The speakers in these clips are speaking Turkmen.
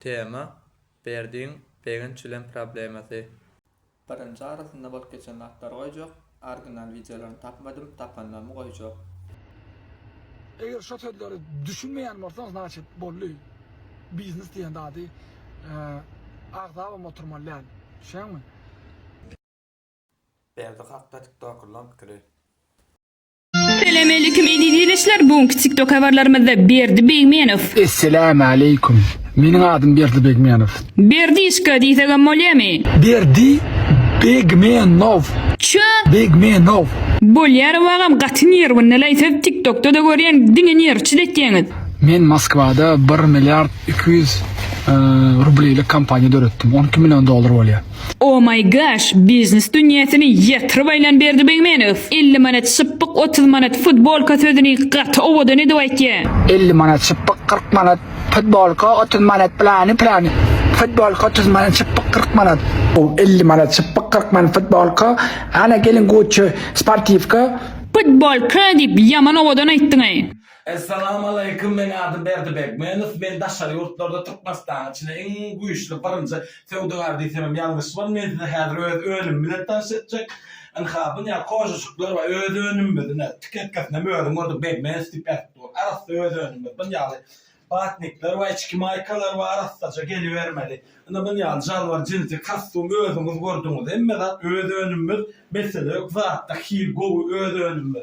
Tema, Berdiň begiň çilim problemasy. Birinji arasynda bolup geçen zatlary goýjak, orginal wideolaryny tapmadym, tapanlarymy goýjak. Eger şo sözleri düşünmeýän bolsaň znaçit boldy biznes diýen zady agzabam oturmaly däl düşýäňmi. Berdi hakda tiktokerlaň pikiri. Salam aleýkum eziz ildeşler bu günki tiktok habarlarymyzda Berdi Begmenow. Esselämu aleýkum. Meniň adym Berdi Begmenow. Berdişka diýsegem bolýamy? Berdi Begmenow. Çö! Begmenow. Bolýarow agam gaty nerwinelay siz tiktokda-da görýän diňe nerwçil etýäňiz. Men Moskwada bir milliard iki ýüz rublýlik kompaniýa döretdim. On iki million dollar bolýar. Oh my gosh biznes dünýäsini ýatyryp aýlan Berdi Begmenow elli manat şypbyk otuz manat futbolka sözüni gaty owadan edip aýtýa. Elli manat şypbyk kyrk manat futbolka otuz manat plany plany futbolka otuz manat şypbyk kyrk manat. Oh elli manat şypbyk kyrk manat futbolka ana gelin gucci sportiwka. Putbolka diýip ýaman owadan aýtdyňaý. Essalamaleykum men adym Berdi Begmenow men daşary ýurtlarda Türkmenistanyň içinde iň güýçli birinji Söwdagar diýsemem ýalňyşman, men size häzir öz önümim bilen tanyş etjek. Ynha, bu ne kožuşyklar we öz önümimiz, ine, tik etkesinem özüň gördüň, Begmans diýip ýazypdy ol. Arassa öz önümimiz. Bun ýaly batnikler we içki maýkalar we arassaja gelibermeli. Ine, bun ýaly jalbar jinsi kostum özüňiz gördüňiz. Hemme zat öz önümimiz, mesele ýok, zatda hil gowy, öz önümimiz.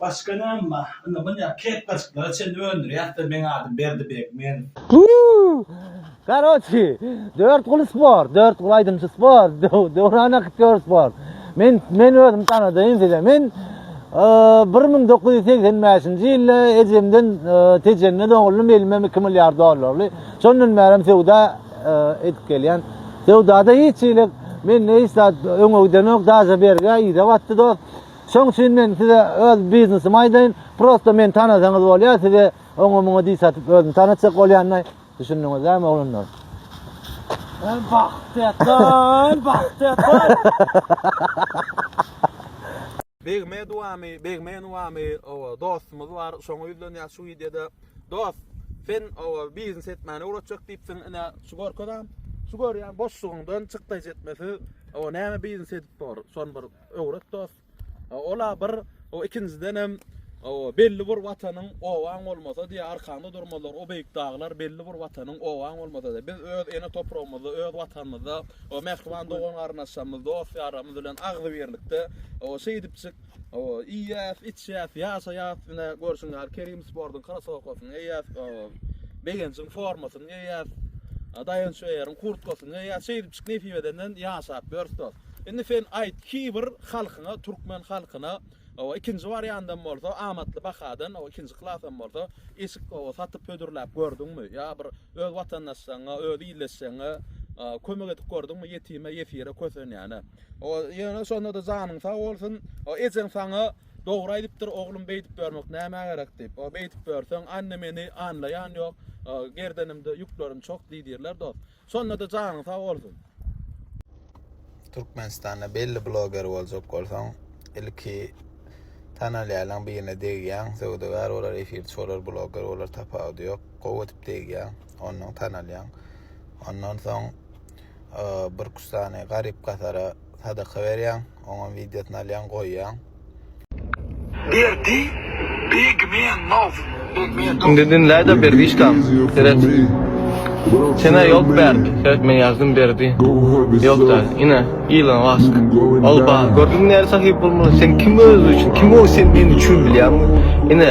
Başga näme bar? Indi munýa kepkaçyklara çenli öndürýäsler, meň adym Berdi Begmenow. Karoçi, Dörtguly sport, Dörtguly aýdymçy sport, Döwran aktýor sport. Men, men özümi tanadaýyn size. Men bir müň dokuz ýüz segsen bäşinji ýylda ejemden Tejende doguldym, elimem iki milliard dollarly. Şondan bärem söwda edip gelýän. Söwdada hiç hili mende hiç zat öňe gidenok, daže bergä yza batdy dost. Şoň üçin men size öz biznesimi aýdaýyn, prosta meni tanasaňyz bolýar, size oňa-muňa diş atyp özümi tanatjak bolýanmy? Düşündiňizdämi oglanlar? Hem bagtyýatlar, hem bagtyýatlar. Begmedowamy, Begmenowamy, oba, dostumyz bar, şoňa ýüzlenýäs şu wideoda. Dost, sen, oba, biznes etmäni öwretjek diýipsiň, ine, şu görkezäm. Şu görýän boşlugyňdan çykdaýjy etmesi, oba, näme biznes edip bor, şony bir. öwret dost. Ola bir o ikinjiden hem o belli bir watanyň owaň bolmasa diye arkanda durmalar o beýik daglar belli bir watanyň owaň bolmasa diye biz öz ene topragymyzda öz watanymyzda o mähriban dogan garyndaşlarymyz dost ýarlarymyz bilen agzy birlikde o şeýdipjik o iýýäs içýäs ýaşaýas ine görşüň ýaly Kerim sportuň krosowkasyny eýýäs o begenjiň formasyny eýýäs daýanç öýeriň kurtkasyny eýýäs şeýdipjik nesip edenden ýaşap ýörs dost Indi sen aýt, Kibir halkyňa, türkmen halkyna, hawa, ikinji wariandam bolsa, amatly bahadan, hawa, ikinji klasam bolsa, eşik, hawa, satyp hödürläp gördüňmi? Ýa bir öz watandaşlaryňa, öz ildeşleriňe, a, kömek edip gördüňmi, ýetime, ýesire, kösenýäne? Hawa, ýöne şonda-da janyň sag bolsun. Hawa, ejeň saňa dogry aýdypdyr, oglum, beýdip ýörmek nämä gerek diýip. Hawa, beýdip ýörseň, anne meni anlaýan ýok, a, gerdenimde ýüklerim çok diýdirler dost. Şonda-da janyň sag bolsun. Türkmenistanda belli bloger boljak bolsaň, ilki tanalýaýlaň birine degýäň, söwdagär bolar, efirçi bolar, bloger bolar tapawudy ýok. Gowy edip degýäň, onnoň tanalýaň. Ondan soň bir-iki sany garyp-gasara sadaka berýäň, oňam wideosyny alýaň goýýaň. Berdi Begmenov Begmedow. Indi dinläýda Berdişkam seret. Senä ýok Berdi seret men ýazdym Berdi ýok däl ine Ilon Mask ol bar gördüňmi näre sahypbolmaly sen kim özüň üçin kim ol sen men üçin bilýäňmi ine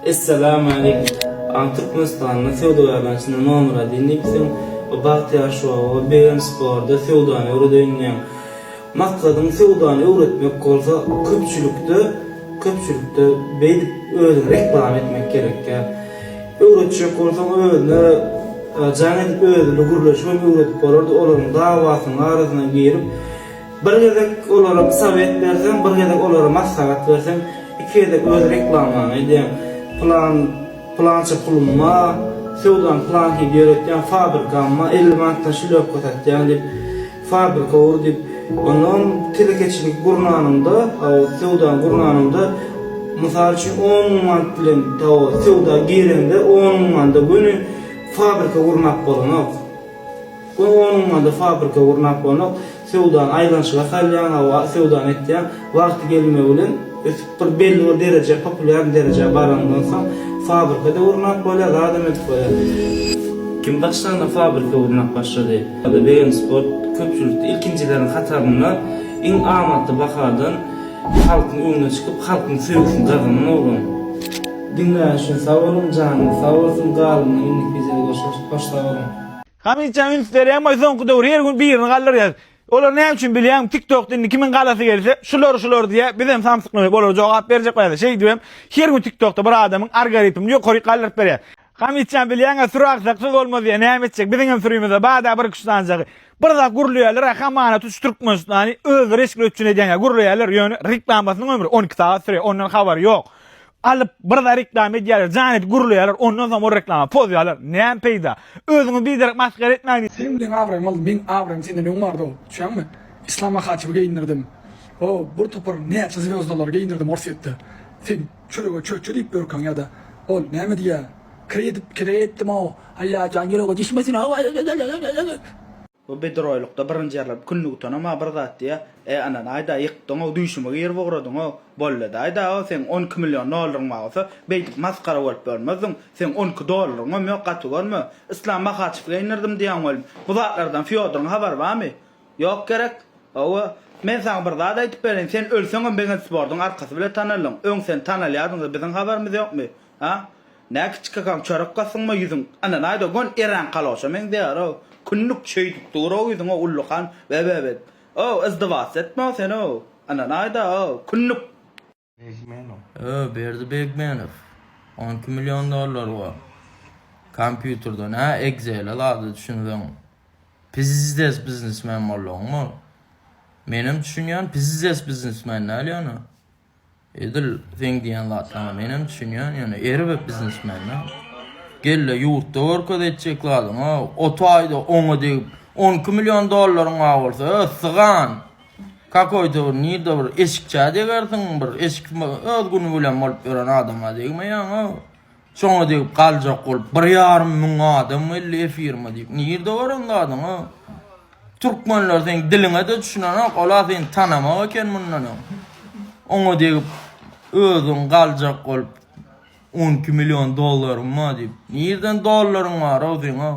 Essalamu Aleýkum. Aň Türkmenistanda söwdagärler içinde nomera diýen diýipsiň. Bu bagtyýar şowa begenç borda söwdany öwredeýin diýen. Maksadyň söwdany öwretmek bolsa köpçülikde köpçülikde beýdip özüňi reklama etmek gerekýär. Öwretjek bolsaň özüne jaň edip özüni gürleşip hem öwredip bolardy olaryň dawasynyň arasyna girip Bir gezek olara sowet berseň, bir gezek olara maslahat berseň, iki gezek öz reklamaňy edýäň, plan, plança pulumma, söwdany planhili ýöretýäň, fabrikamma elli manatdan şlýopka satýaň diýip, fabrika gur diýip, onnoň telekeçilik gurnanyňda, söwdany gurnanyňda, mysal üçin, on müň manat bilen tao söwda gireňde, on müň manda göni fabrika gurmak bolanok. Goý onuň ady fabrika gurnap bolanok, söwdany aýlanyşyga salýaň, hawa söwdany etýäň, wagty gelmegi bilen ötüp bir belli bir derejä populýarny derejä baranyndan soň fabrikada gurnap bolýar, zadam edip bolýar. Kim başlanda fabrika gurnap başlady. BM Sport köpçülikde ilkinjileriň hatarynda iň amatly bahadan halkyň öňüne çykyp halkyň söýgüsini gazanan oglan. Diňleýän üçin sag boluň, janyňyz sag bolsun, galynyna indiki wideoda görşeris, hoş sag boluň. Hamytjan üns berýän boy soňky döwür her gün birini galdyrýas. Olar näme üçin bilýäňmi tiktokda indi kimiň galasy gelse şular şular diýýär bizem samsyklanyp olara jogap berjek bolýas şeýdibem her gün tiktokda bir adamyň argaritmini ýokaryk galdyryp berýär. Hamytjan bilýäňä süri aksaksyz bolmaz diýýär näme etjek biziňem sürimize bada bir güçlanjagy. Bir zat gürleýärlerä hamana tuş türkmenistany özleri eşikli üçin edýäňä gürleýärler ýöne reklamasynyň ömri on iki sagat sürýär ondan habary ýok. Alyp bir zat reklama edýärler, jan edip gürleýärler, ondan soň ol reklama pozýarlar. Näme peýda? Özüňi biderek masgara etmäň. Seniň bilen abraýym aldy, meň abraýym senden öň bardy, düşýäňmi? Yslama haçyby geýindirdim. O, bir topar näçe zwýozdalary geýindirdim Orsýetde. Sen çörege çöçe diýip ürkäň ýa-da. Ol näme diýýär? Kredit, kreditdim-ow, Allajjan ýürege düşmesin-ow. Bu biduroýlukda birinji ýerler künni gutanam-a bir zat diýýä, E, ynanaý-da, ýykdyň-ow, düýşüme girip ugradyň-ow. Bolladaý-da-ow, seň on iki million dollaryň bar bolsa, beýdip masgara bolup ýörmezdiň. Seň on iki dollaryňam ýok, gaty görme. Yslam Mahaçewge indirdim diýýäň welin, bu zatlardan Fýodoryň habary barmy? Ýok gerek? Hawa, men saňa bir zat aýdyp bereýin, sen ölseňem Begenspordyň arkasy bile tanaldyň. Öň sen tanalýardyň-da, biziň habarymyz ýokmy? A? Nä kiçi kakaň çörek gasdyňmy ýüzüň ana naý dogan erän kaloşa meňzeýärow kündük şeýdip durow ýüzüňow ullakan bebebet ow yzdybat etme sen ow ana naý da ow kündük. Begmenow. Öö Berdi Begmenow on iki million dollary bar kompýuterden hä Excel-e zada düşünseň pizizdes biznesmen boldugyň bor menem düşünýän pizizdes biznesmen däl ýöne Edil seň diýen zatlaňa menem düşünýän, ýöne erbet biznesmende gelle ýurtda görkez etjek zadyň, o, o taýda oňa degip 12 million dollaryň bar bolsa, össygan. Kakoýda bir nirde bir eşikçä degersiň, bir eşik öz güni bilen bolup ýören adama degmeýäň, o. Şoňa degip galjak bolup bir ýarym müň adam geldi efirime diýip. Nirde bar oň zadyň o? Türkmenler seň diliňe-de düşünenok, ola seni tanamok eken mundan öň. Oňa degip özüň galjak bolup on iki million dollaryň bar diýip. Nirden dollaryň bar-ow seň-ow?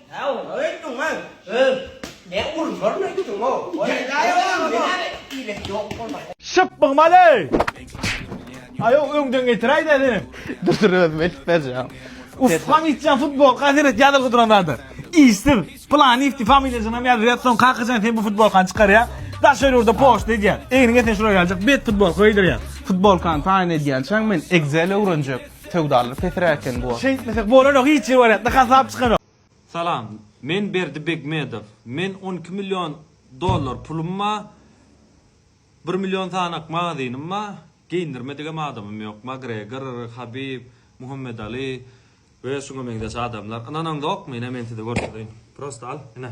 Hä oňa öýtdüňmi? Öh, ne urmaryna öýtdüň-ow. Şyp bygmaly! Aýow öňden getiräýdä senem. Dur dur özüm eltip berjeň. Uspaň içýän futbolka seret ýazylgy duran zady. Işsiz. Planifti familiýasyňam ýazyberýär soň kakajan sen bu futbolkany çykarýaň. Daşary ýurda poçta edýäň. Egniňe sen şura geljek bet futbolka geýdirýäň. Futbolkany taýyn edýänçäň men Excel öwrenjek. Söwdalar pesräk eken bu. Şeýtmesek bolanok hiç ýere baryatda hasap çykanok. Salam. Men Berdi Begmedow. Men on iki million dollar pulum ba, bir million sanak magazynym ba, geýindirmedigem adamym ýok. Magregor, Habib, Muhammed Ali we şuňa meňzeş adamlar. Ynanaňzokmy? Ine men size görkezeýin. Prosta al, ine.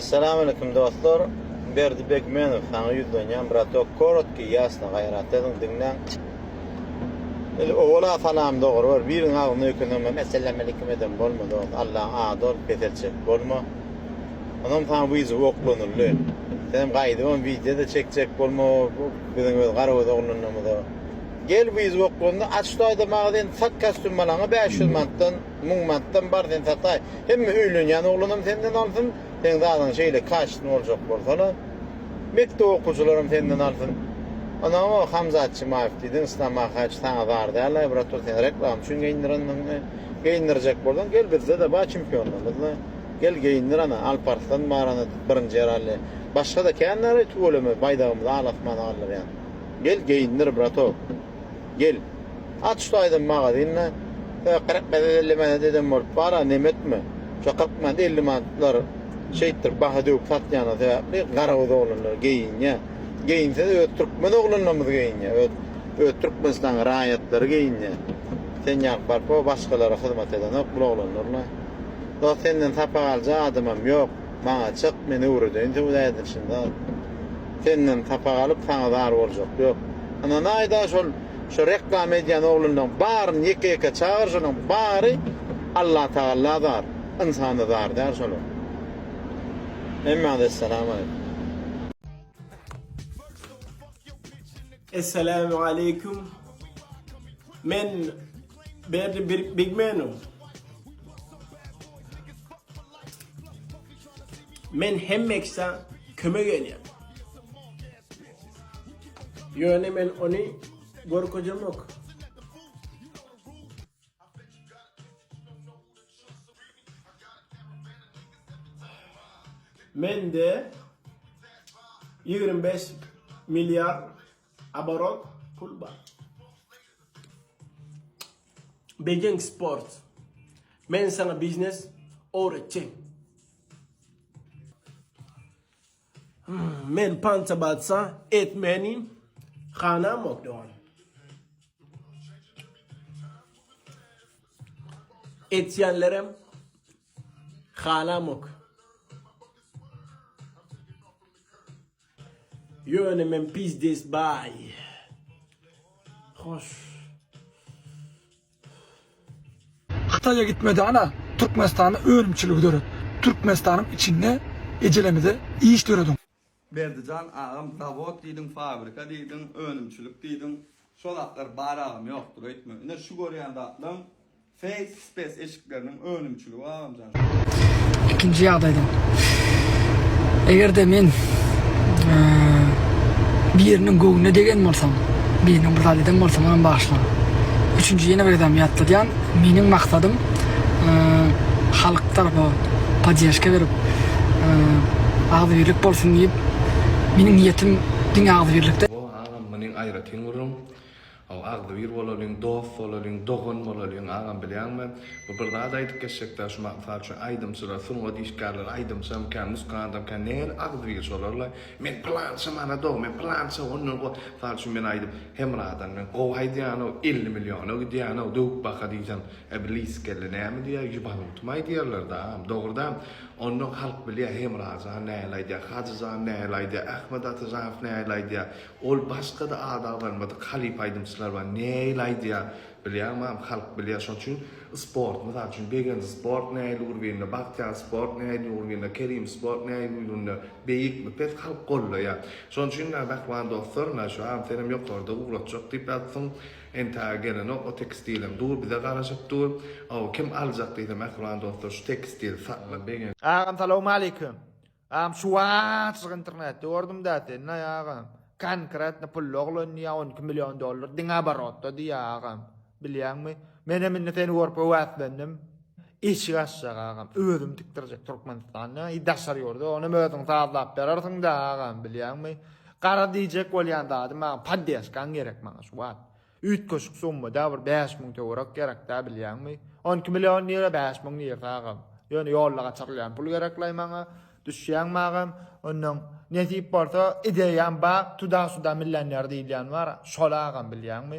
Essalam Aleýkum Dostlar Berdi Begmenow saňa ýüzlenýän bratok korotky ýasny gaýrat ediň diňläň Biz owala salam dogry bir biriň agzyna öýkensem hem Essalam Aleýkum edem bolma dost Allaň ady ol pes etjek bolma Onam saňa wideow oklanyldy senem gaýdyp hem wideo-da çekjek bolma biziň öz garagöz oglanlarymyza gel wideow oklandy aç şu aýda magazyny sat kastýum balaňa bäş ýüz manatdan Müň manatdan bar sen sataý. Hemme öýlenýän oglanam senden alsyn, seň zadyňy şeýle kaşitini boljak bolsana. Mekdep okuwçylaram senden alsyn. Ana o Hamza Atçymaýew diýdiň, Yslam Ahaýew saňa zar däl-aý brat ol seni reklama üçin geýindirendiňmi? Geýindirjek bolsaň gel bizde-de bar çempionlarymyz-la. Gel geýindir ana, Alparslan bar ana birinji ýerally. Başga-da kän bar-aý tüweleme baýdagymyzy al-asmana galdyrýan. Gel geýindir bratok. Gel. At şu taýdan magazynda. Hä, kyrk manat elli manat eden bolup bar-a, nemetmi? Şo kyrk manat elli manatlar şeýtdirip baha döwüp satýany sebäpli garaguz oglanlar geýinýär. Geýinse-de öz türkmen oglanlarymyz geýinýär. Öz, öz Türkmenistanyň raýatlary geýinýär. Sen ýaly barpo başgalara hyzmat edenok bul oglanlar-la. Dost, senden sapak aljak adamym ýok. Maňa çyk, men öwredeýin söwda edilişini zat. senden sapak alyp saňa zar boljak ýok ynanaýda şol şu reklama edýän oglanlaň baryny ýeke ýeke çagyr şolaň bary Allah tagalla zar ynsana zar däl şolar hemmäňize salam aleýkum. Esselämu aleýkum men Berdi big man. Men hemmeksa kömek edýän. Ýöne men ony gorkuzamok. Mende 25 milliard aborot pul bar. Bedeň Sports. Men sana biznes öwretjek. Men pança batsa etmeni hana mokdowan. Etýänlerem halamok. Ýöne men pizdes baý. Hoş. Hytaýa gitme dana Türkmenistanda önümçiligi döret. Türkmenistanyň içinde ejelemize iş dörediň. Berdijan agam zawod diýdiň fabrika diýdiň önümçilik diýdiň Şo zatlar bar agam ýokdur öýtme ine şu görýän zatlaň face space eşikleriniň önümçiligi agamjan şu. Ikinji ýagdaýda egerde men biriniň göwnüne degen bolsam biriniň bir zat eden bolsam onam bagyşla üçünji ýene bir gezegem ýatladýan meniň maksadym halk tarapa poddežka berip agzybirlik bolsun diýip meniň niýetim diňe agzybirlikde. Muny aýratyn gürrüň. Hawa, agzybir bolalyň, dost bolalyň, dogan bolalyň, agam, bilýäňmi, bu bir zat aýdyp geçjek-dä, şu mysal üçin, aýdymçylar, sungat işgärleri, aýdymçamyka, muzkantamyka, nähili agzybir şolar-la, men pylança manada-ow, men pylança ondan go-, mysal üçin, men aýdyp, Hemradan men gowy aýdýan-ow, elli milliona gidýän-ow, döwüp baka diýsem, e, bir lysy kelle näme diýer, ýubanutymy aýdýarlar-da, agam, dogry däl, Ondan halk bilýär, Hemra jan nähili aýdýar, Hajy jan nähili aýdýar, Ahmet Atyjanow nähili aýdýar, ol başga-da ady agzalmadyk halypa aýdymçylar bar, nähili aýdýar, bilýäňmi agam, halk bilýär. Şonuň üçin sport, mysal üçin, Begenç sport nähili urbinde, Bagtyýar sport nähili urbinde, Kerim sport nähili urbinde, beýikmi, pes, halk gollaýar. Şonuň üçin, mähriban dostlar, şu agam senem ýokarda ugratjak diýip ýazypsyň, Entä gelenok o tekstiliň dur bize garaşyp dur ow kim aljak diýse mähriban dostlar şu tekstil saklyk begenç. Agam salowmaleýkim. Agam şu wagtjyk internetde gördümdä seni agam. Konkretno pully oglan diýýä on iki million dollar diňe oborotda diýýä agam. Bilýäňmi? Menem indi seni görüp höwäslendim. Eşik açjak agam özüm tikdirjek Türkmenistanda i daşary ýurda onam özüň sazlap berersiňda agam bilýäňmi gara diýjek bolýan zadym agam poddeşkaň gerek maňa şu wagt üýtgeşik summada bir bäş müň töwerek gerekdä bilýäňmi on iki million lira bäş müň lira agam ýöne ýolda gaçyrylýan pul gereklay maňa düşýäňmi agam ondan nesip bolsa ideýam bar tuda suda millioner diýilýän bar şol agam bilýäňmi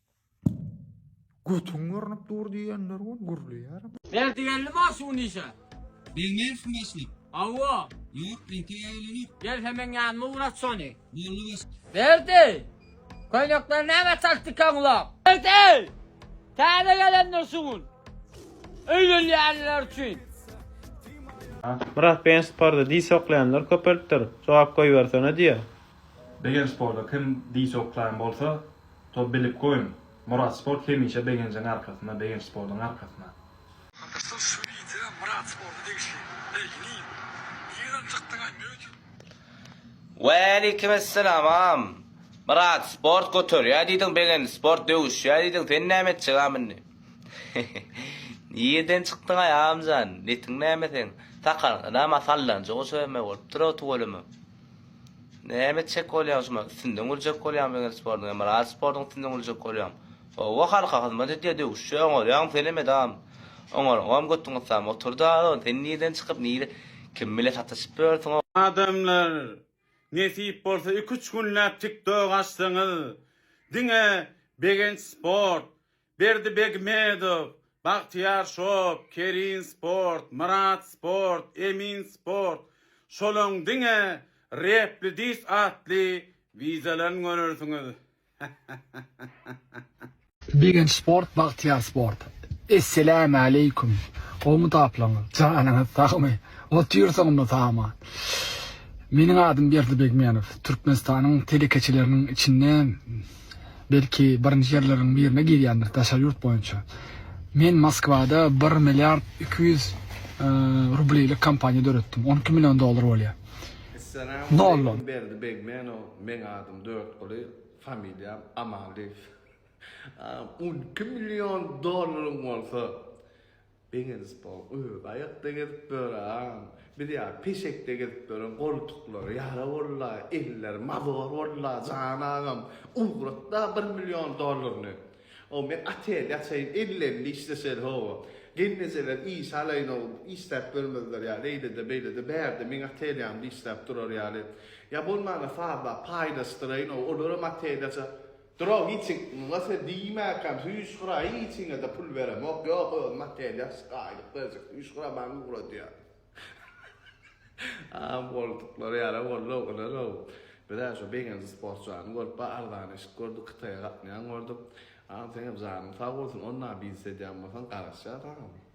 Götüň görnüp dur diýenler gon gürleýärem. Berdi geldi maňa şu gün işe. Bermersiň başlyk. Hawa. Ýok, entek aýlanyp. Gel hemen ýanyma ugrat şony. Boldy başlyk. Berdi! Köýnekleri nämä çalt dikaňlap? Berdi! Täze gelenler şu gün. Öýlenýänler üçin. Myrat beýen sporda diş oklaýanlar köpelipdir, jogap goýbersene diýýär. Beýen sporda kim diş oklaýan bolsa, To bilip goýuň. Murat sport hemişe begenjiň arkasynda begenç sportuň arkasynda. Arkadaşlar şu wideo Myrat sporta degişli. Begini. Nireden çykdyňaý möjek. Waleykimessalam agam Myrat sport göterýä diýdiň begenç sport döwüşýä diýdiň sen näme etjek agam indi Nireden çykdyňaý agamjan netiň näme seň sakalňa dama sallanjak oşa eme bolupdyr-ow tüweleme. Näme etjek bolýaň şuma üstünden güljek bolýaňmy wengr sportuň emiraty sportuň üstünden güljek bolýaň howwa halka hyzmat edýä döwüşje oňarýaňmy senem edam oňaryňam götüň ysam oturda o sen nirden çykyp nire kim bile sataşyp ýörsüň o Adamlar nesip bolsa iki üç günläp tiktok açsaňyz diňe begenç sport Berdi Begmedow, Bagtyýar Şop, Kerin Sport, Myrat Sport, Emin Sport, şolaň diňe Repli Dis atly wizalaryny görersiňiz. Begenç Sport, Bagtyýar Sport. Esselamualeýkum. Gowmy taplaňyz? Janyňyz sagmy? Otyr soňunda saman. Meniň adym Berdi Begmenow. Türkmenistanyň telekeçileriniň içinde belki birinji ýerleriň birine girýändir daşary ýurt boýunça. Men Moskwada bir milliard iki ýüz rublilik kompaniýa döretdim, on iki million dollar bolýar. Nollon. Berdi Begmenow meň adym Dörtguly, familiýam Amanlyýew. On iki million dollaryň bolsa, Begenip bol gyz aýakda gezip ýören biz ýa peşekde gezip ýören goltuklary ýara bolda elleri mazor bolda jan agam ugratda bir million dollaryny o men otel ýaçaýyn elli elli işleşeli howa gelnejeler iş alaýyn o işläp bermezler ýa eýlede beýlede bärde meň otel ýanymda işläp durar ýaly ýa bolmanda sazlap paýlaşdyraýyn o olaram otel ýaça Dura giçik muňa se diýmäkäm süýşgura hiçiňede pul beremok ýok özüm otelýa şgaýlyk berjek süýşgura maňa ugradýa a bolduklar ýara boldy oglanow bizä şu begenji sportçany görüp ba arzan eşik gördük kytaýa gatnaýan gördük a seňem janyň sag bolsun onda biz edýän bolsaň garaşýas saňa.